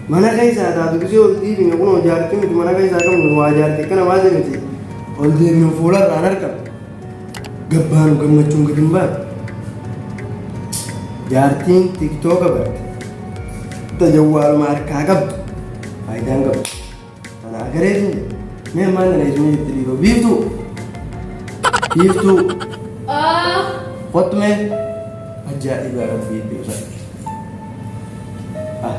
mana keessa haa taatu gisee ol dhiibine kun hojii argite miti mana keessa akka miti waa jaarte kana baate miti ol deebinu fuula irraan argamu gabbaanu gammachuun gadi hin baatu jaartiin tiktooka barte tajawwaaluma harkaa qabdu faayidaan qabdu. Ana agareetu mee ammaan na leesuu jirti dhiiroo biiftuu biiftuu kottu mee ajaa'iba rabbii beeka. Ah.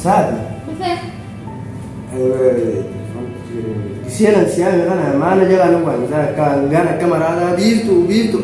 Saati. Seenan siyaa kana maana jalaa nu waan isaa akka hangaan akka maraataa biiftuu biiftuu.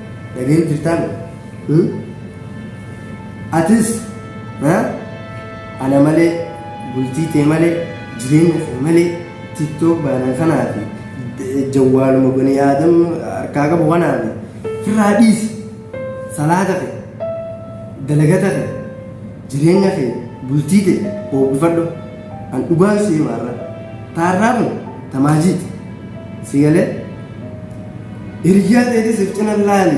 Dhagahee jirtaan? Hmm? Atis ha? ana malee bultii tee malee jireenya kee malee tiktok baana kanaa fi d- jawwaaluma banii aadam harkaa qabu kanaa fi firraa dhiisi salaata kee dalagata kee jireenya kee bultii tee hoogifadhu. An dhugaan si hima arra. Ta arraa kun ta maajiiti. Si galee? Hiriyyaa teetis if cina laali.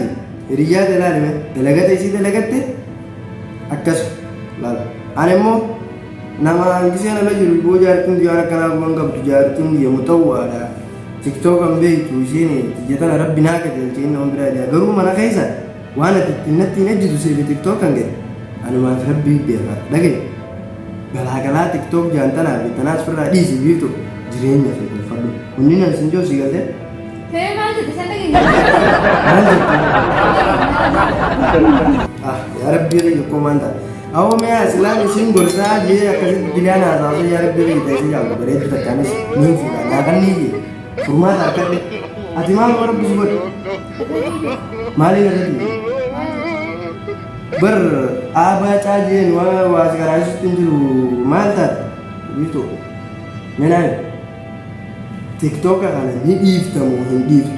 Hiriyyaa tee laali mee. Dalagata isii dalagatte akkas laal. An immoo nama gisee nala jiru boo jaartiin biyyaa akkanaa guban qabdu jaartiin biyya mutawwaadha. Tiktokan beektu isheen tiyya tana rabbi naa qajeelche inni nama biraa jira. Garuu mana keessa Waan ati ittiin natti hin ejjitu siifi tiktok kan ga'e anumaaf rabbii beeka dhagaye galaagalaa tiktok jaantanaa fi tanaas firraa dhiisi biiftu jireenya fi bulfadhu kunni nan sin joo sii galte Tee maal jette san dhageenya? maal jette ah yaa rabbii ree yokkoo maan ta'a awoo mee asilaan isiin gorsaa jee akkasitti bilaan haasaasa yaa rabbii ree ta'e si jaallu bareeddu takkaanis niin fuudha naa kannii jee Furmaata argadhe. Ati maal warra busu godhe? Maaliin irratti? Bar aabaa caajeen waa waa si garaasisutti hin jiru maal taate? Biiftuu. Menaan. Tiktooka kana ni dhiiftamu hin dhiiftu.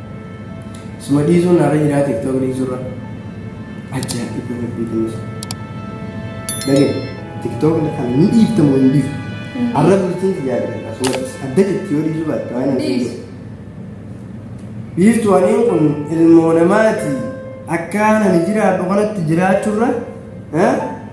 Suma dhiisuun naarra jiraa tiktok dhiisurra. Ajjaa dhibba rabbii kunis. Dhageen tiktok kan ni dhiiftamu hin dhiiftu. Arra bultiin si yaadata akkasumas adda jetti yoo dhiisuu baatte waan hin Dhiisu. Dhiiftu waliin kun ilmoo namaati. Akka ani jiraadhu kanatti jiraachurra. eh,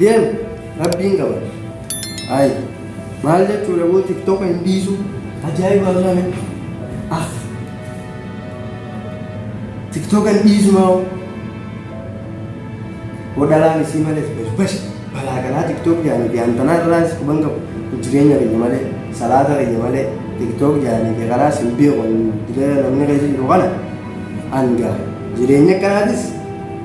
Deem rabbiin qaba. Ay maal jechuudha boo tiktoka hin dhiisu. Ajaa'iba Allah natti. Ah. Tiktoka hin dhiisu maa hoo. Hodalaan isii malees basbashi balaa kanaa tiktok jaanii fi hantanaa irraas quban qabu jireenya kiyya malee salaata kiyya malee tiktok jaanii fi karaas hin beeku diree namni keessa jiru kana hanga jireenya kanaatis